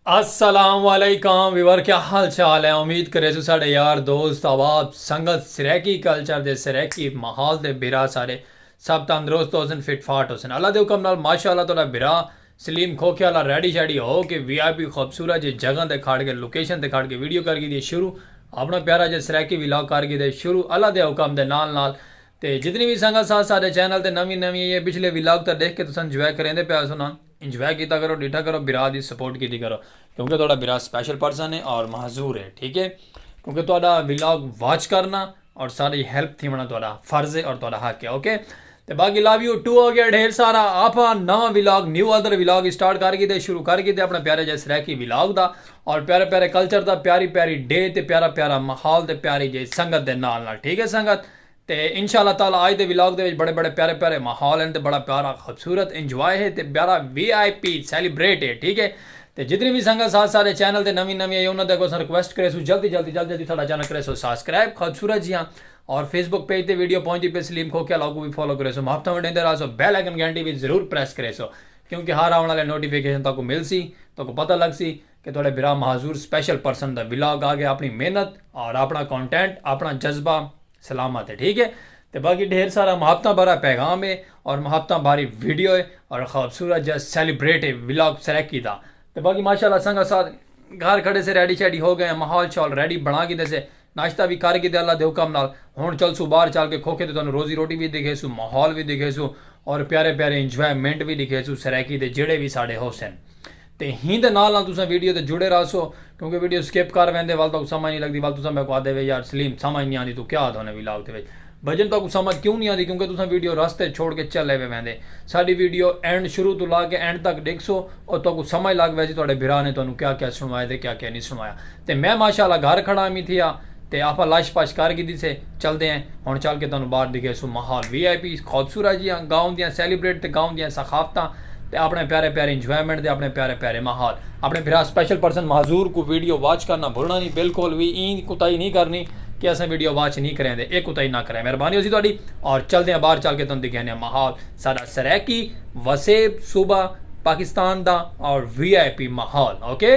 السلام علیکم ویور کیا حال چال ہے امید کرے سو ساڑے یار دوست احباب سنگت سریکی کلچر دے سریکی ماحول دے بھرا ساڑے سب تندرست ہو سن فٹ فاٹ ہو سن اللہ دے حکم نال ماشاءاللہ تہاڈا بھرا سلیم کھوکھے والا ریڈی شیڈی ہو کے وی آئی پی خوبصورت جے جگہ تے کھڑ کے لوکیشن تے کھڑ کے ویڈیو کر گھدی ہے شروع اپنا پیارا جے سریکی ولاگ کر گھدے شروع اللہ دے حکم دے نال نال تے جتنی وی سنگت سا ساڈے چینل تے نوی نوی ای اے پچھلے وی لاگ تاں ڈیکھ کے تساں انجوائے کریندے پے ہسو نا انجوائے کیتا کرو ڈیٹھا کرو برا دی سپورٹ کیتی کرو کیونکہ تہاڈا برا سپیشل پرسن اے اور معذور اے ٹھیک اے کیونکہ تہاڈا وی لاگ واچ کرنا اور ساڈی ہیلپ تھیونڑاں تہاڈا فرض اے اور تہاڈا حق اے اوکے تے باقی لو یو ٹو ہو گیا ڈھیر سارا آپاں نواں vlog new other vlog start کر گیتے شروع کر گیتے اپنے پیارے جے سرائیکی وی لاگ دا اور پیارے پیارے کلچر دا پیاری پیاری ڈے تے پیارا پیارا ماحول تے پیاری جے سنگت دے نال نال ٹھیک اے سنگت تے انشاء اللہ تعالی آج دے ولاگ دے وچ بڑے بڑے پیارے پیارے ماحول ہن تے بڑا پیارا خوبصورت انجوائے ہے تے پیارا وی آئی پی سیلیبریٹ ہے ٹھیک ہے تے جتنی وی سنگت ساتھ سارے چینل تے نویں نویں آئی انہاں دے اگوں اساں ریکویسٹ کریسوں جلدی جلدی جلدی جلدی ساڈا چینل کریسو ساسکرائب خوبصورت جیاں اور فیس بک پیج تے ویڈیو پہنچدی پئی سلیم کھوکھیال اوکوں وی فالو کریسو محبتاں ونڈیندے راہسو بیل آئیکن گھنٹی وی ضرور پریس کریسو کیونکہ ہر آون آلے نوٹیفیکیشن تہاکوں ملسی تہاکوں پتہ لگسی کہ تہاڈے بھرا مہاذور سپیشل پرسن دا ولاگ آ گیا اپنی محنت اور اپنا کونٹینٹ اپنا جذبہ سلامت ہے ٹھیک ہے تے باقی ڈھیر سارا محبتاں بھرا پیغام ہے اور محبتاں بھاری ویڈیو ہے اور خوبصورت جا سیلیبریٹ ہے ولاگ سرائیکی دا تے باقی ماشاءاللہ سنگت ساتھ گھر کھڑے سے ریڈی شیڈی ہو گئے ہیں ماحول شاول ریڈی بنا گھیندے سے ناشتہ وی کر گھدے اللہ دے حکم نال ہن چلسوں باہر چل کے کھوکھے تے تہانوں روزی روٹی وی ڈکھیسوں ماحول وی ڈکھیسوں اور پیارے پیارے انجوائے منٹ وی ڈکھیسوں سرائیکی دے جیڑھے وی ساڈے ہوسن تے ہین دے نال نال تساں ویڈیو تے جڑے راہسو کیونکہ ویڈیو سکپ کر ویندے ول تہاکوں سمجھ نی لگدی ول تساں میکوں آہدے وے یار سلیم سمجھ نی آندی توں کیا آہدھونے وی لاگ دے وچ بھائی جان تہاکوں سمجھ کیوں نی آندی کیونکہ تساں ویڈیو راستے اچ چھوڑ کے چلے وے ویندے ساڈی ویڈیو اینڈ شروع توں لا کے اینڈ تک ڈیکھسو او تہاکوں سمجھ لگ ویسی تہاڈے بھرا نے تہانوں کیا کیا سنڑوایا تے کیا کیا نی سنڑوایا تے میں ماشاء اللہ گھر کھڑا امی تھیا تے آپاں لش پش کر گھدی سے چلدے ہیں ہن چل کے تہانوں باہر ڈکھیسوں ماحول وی آئی پی خوبصورت جیہاں گاؤں دیاں سیلیبریٹ تے گاؤں دیاں ثقافتاں تے اپنڑے پیارے پیارے انجوائمنٹ دے اپنڑے پیارے پیارے ماحول اپنڑے بھرا سپیشل پرسن معذور کوں ویڈیو واچ کرنا بھلنا نی بالکل وی ایں کوتاہی نی کرنی کہ اساں ویڈیو واچ نی کریندے اے کوتاہی نا کریں مہربانی ہوسی تہاڈی اور چلدے آں باہر چل کے تہاڈوں دکھیندے آں ماحول ساڈا سرائیکی وسیب صوبہ پاکستان دا اور وی آئی پی ماحول اوکے۔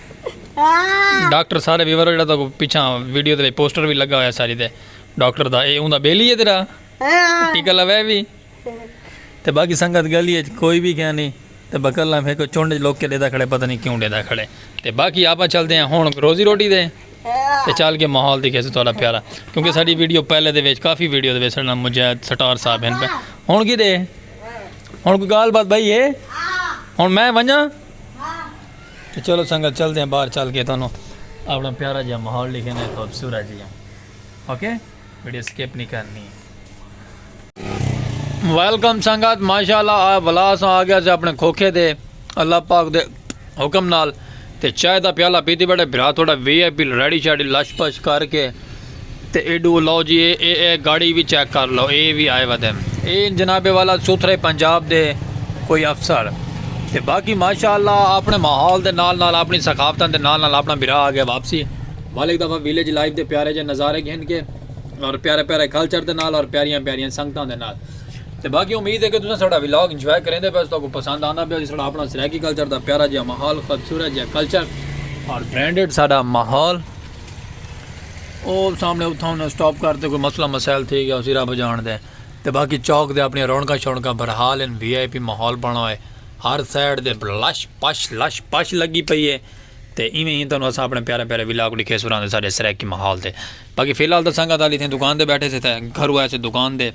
ڈاکٹر سارے ویور جڑا تو پیچھا ویڈیو تے پوسٹر بھی لگا ہوا ساری تے ڈاکٹر دا اے اوندا بیلی ہے تیرا ٹیکا لوے بھی تے باقی سنگت گلی ہے کوئی بھی کیا نہیں تے بکلا پھر کوئی چونڈ لوک کے دیدا کھڑے پتہ نہیں کیوں دیدا کھڑے تے باقی آپا چلتے ہیں ہون روزی روٹی دے تے چال کے ماحول دیکھے سے تھوڑا پیارا کیونکہ ساری ویڈیو پہلے دے ویچ کافی ویڈیو دے ویچ سڑنا مجاہد سٹار صاحب ہیں پہ ہون کی دے ہون کوئی گال بات بھائی ہے ہون میں ونجا تو چلو سنگت چلدے ہیں باہر چل کے تانوں اپنا پیارا جہاں ماحول لکھے ہیں خوبصورت جی ہیں اوکے ویڈیو سکپ نہیں کرنی ہے ویلکم سنگت ماشاءاللہ آ بلا سا آ گیا سے اپنے کھوکھے دے اللہ پاک دے حکم نال تے چائے دا پیالہ پیتی بیٹھے بھرا تھوڑا V I P ready shady لش پش کر کے تے ایڈو لو جی اے اے اے گاڑی وی چیک کر لو اے وی آئے ودھن۔ اے ہن جناب والا سوتھرے پنجاب دے کوئی افسر تے باقی ماشاء اللہ اپنے ماحول دے نال نال اپنی ثقافتاں دے نال نال اپنا بھرا آگے واپسی ول ہک دفعہ ویلیج لائف دے پیارے جے نظارے گھن کے اور پیارے پیارے کلچر دے نال اور پیاریاں پیاریاں سنگتاں دے نال تے باقی امید ہے کہ تساں ساڈا ولاگ انجوائے کریندے پے او تہاکوں پسند آندا پیا ساڈا اپنا سرائیکی کلچر دا پیارا جیا ماحول خوبصورت جیا کلچر اور برانڈڈ ساڈا ماحول او سامنے اتھاں انہاں سٹاپ کر تے کوئی مسئلہ مسائل تھی گیا اسی رب جان دے تے باقی چوک دے اپنی رونکاں شونکاں برحال ان وی آئی پی ماحول بنا ہوئے ہر سائیڈ دے لش پش لش پش لگی پئی ہے تے ایویں ہی تانوں اساں اپنے پیارے پیارے ولاگ ڈکھے سراں دے ساڈے سرائیکی ماحول تے باقی فی الحال تاں سنگت علی تھیں دکان دے بیٹھے سے تے گھرو آئے سے دکان دے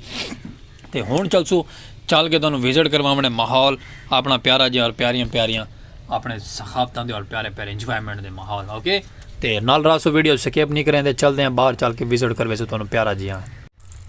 تے ہنڑ چلسو چل کے تہانوں وزٹ کرواونے ماحول اپنا پیارا جے اور پیاریاں پیاریاں اپنے ثقافتاں دے اور پیارے پیارے انجوائمنٹ دے ماحول اوکے تے نال راسو ویڈیو سکیپ نہیں کریں دے چل دے ہیں باہر چل کے وزٹ کروے سو تہانوں پیارا جے ہاں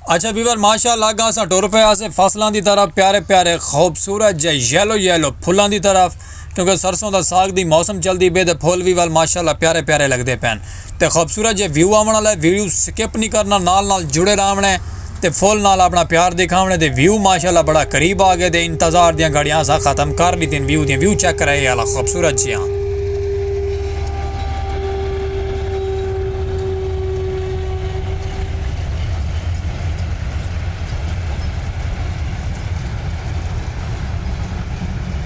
اچھا ویور ماشاءاللہ گا اساں ٹر پے اسے فصلاں دی طرف پیارے پیارے خوبصورت جے یلو یلو پھلاں دی طرف کیونکہ سرسوں دا ساگ دی موسم چلدی پئی تے پھل وی ول ماشاءاللہ پیارے پیارے لگدے پئن تے خوبصورت جے ویو آونڑ آلا ہے ویڈیو سکپ نی کرنا نال نال جڑے راونڑ ہے تے فل نال اپنڑا پیار دکھاونڑ ہے تے ویو ماشاءاللہ بڑا قریب آگئے تے انتظار دیاں گھڑیاں اساں ختم کر ڈتین ویو دیاں ویو چیک کرا اے آلا خوبصورت جیاں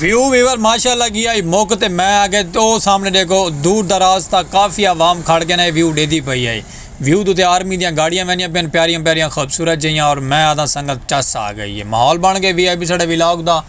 ویو ویور ماشاء اللہ گیا ہی مک تے میں آگے او سامنے ڈیکھو دور دراز تا کافی عوام کھڑ کے نا اے ویو ڈیدھی پئی ہئی ویو دو تے آرمی دیاں گاڑیاں ویندیاں پین پیاریاں پیاریاں خوبصورت جیہاں اور میں آدھاں سنگت چس آ گئی ہے ماحول بن گئے وی آئی پی ساڈے ولاگ دا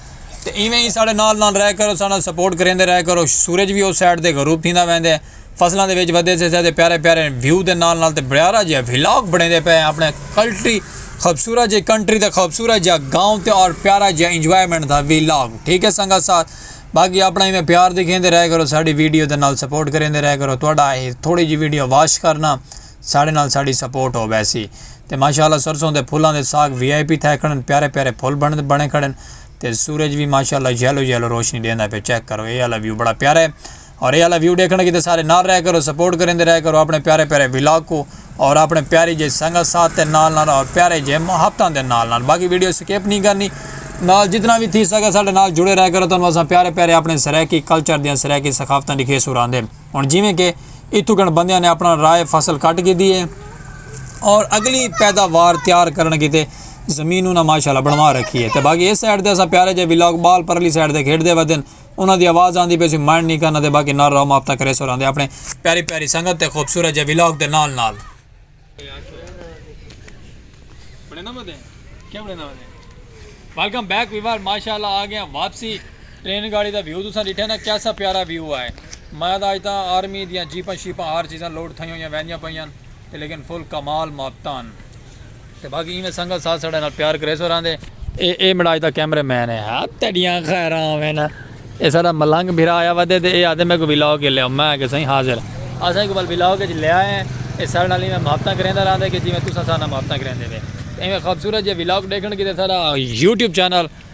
تے ایویں ہی ساڈے نال نال رہ کرو ساڈے نال سپورٹ کریندے رہ کرو سورج وی او سائیڈ تے غروب تھیندا ویندے۔ فصلاں دے وچ ودے سے تے پیارے پیارے ویو دے نال نال تے بڑیارا جیا ولاگ بڑیندے پئے ہیں اپنے کلٹری خوبصورت جی کنٹری تے خوبصورت جیا گاؤں تے اور پیارا جیا انجوائمنٹ دا ولاگ ٹھیک ہے سنگا ساتھ باقی اپنا ہی میں پیار دکھیندے رہے کرو ساڑی ویڈیو دے نال سپورٹ کریندے رہے کرو تھوڑا تھوڑی جی ویڈیو واش کرنا ساڑے نال ساڑی سپورٹ ہو بیسی تے ماشاءاللہ سرسوں دے پھلاں دے ساگ وی آئی پی تھے کھڑن پیارے پیارے پھل بنے بنے کھڑن تے سورج بھی ماشاءاللہ یلو یلو روشنی دیندا پہ چیک کرو اے والا ویو بڑا پیارا ہے اور اے آلا ویو ڈیکھنڑ کیتے سارے نال رہیا کرو سپورٹ کریندے رہیا کرو اپنے پیارے پیارے ولاگ کو اور اپنے پیاری جے سنگت ساتھ تے نال نال اور پیارے جے محبتاں دے نال نال باقی ویڈیو سکیپ نہیں کرنی نال جتنا بھی تھی سکے سارے نال جڑے رہیا کرو تانوں اساں پیارے پیارے اپنے سرائیکی کلچر دیاں سرائیکی ثقافتاں دکھے سراندے ہن جویں کہ اتھوں کن بندیاں نے اپنا رائے فصل کٹ کی دیے اور اگلی پیداوار تیار کرن کیتے زمین انہاں ماشاءاللہ بنوا رکھی ہے تے باقی اس سائیڈ تے اسا پیارے جے ولاگ بال پرلی سائیڈ تے کھیڈ دے ودن انہاں دی آواز آندی پئی سی مائنڈ نی کرنا تے باقی نعرہ رام آپ تاں کریسو رہندے اپنے پیاری پیاری سنگت تے خوبصورت جے ولاگ دے نال نال ویلکم بیک ویور ماشاءاللہ آ گیا واپسی ٹرین گاڑی دا ویو تساں ڈٹھے نا کیسا پیارا ویو آئے میں دا اج تاں آرمی دیاں جیپاں شیپاں ہر چیزاں لوڈ تھئیاں ہویاں ویندیاں پئیاں تے لیکن فل کمال مابتان تے باقی ایویں سنگت ساتھ ساڈے نال پیار کریسو راہندے۔ اے اے مڑاج دا کیمرے مین ہے۔ ہا تیڈیاں خیراں ہوون۔ اے ساڈا ملنگ بھرا آیا ودے تے اے آہدے میکوں ویلاگ اچ لیاؤ۔ میں آکھیا سائیں حاضر۔ اساں ایکوں ول ویلاگ اچ لے آئے ہیں۔ اے ساڈے نال ایویں محبتاں کریندا راہندے کہ جیویں تساں ساڈے نال محبتاں کریندے پئے۔ ایویں خوبصورت جیہے ویلاگ ڈیکھن کیتے ساڈا یوٹیوب چینل۔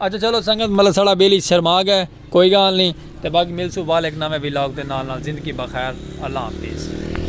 اچھا چلو سنگت مطلب ساڑا بیلی شرما گئے کوئی گال نہیں تے باقی ملسو وال ایک نوے ولاگ دے نال نال زندگی بخیر اللہ حافظ.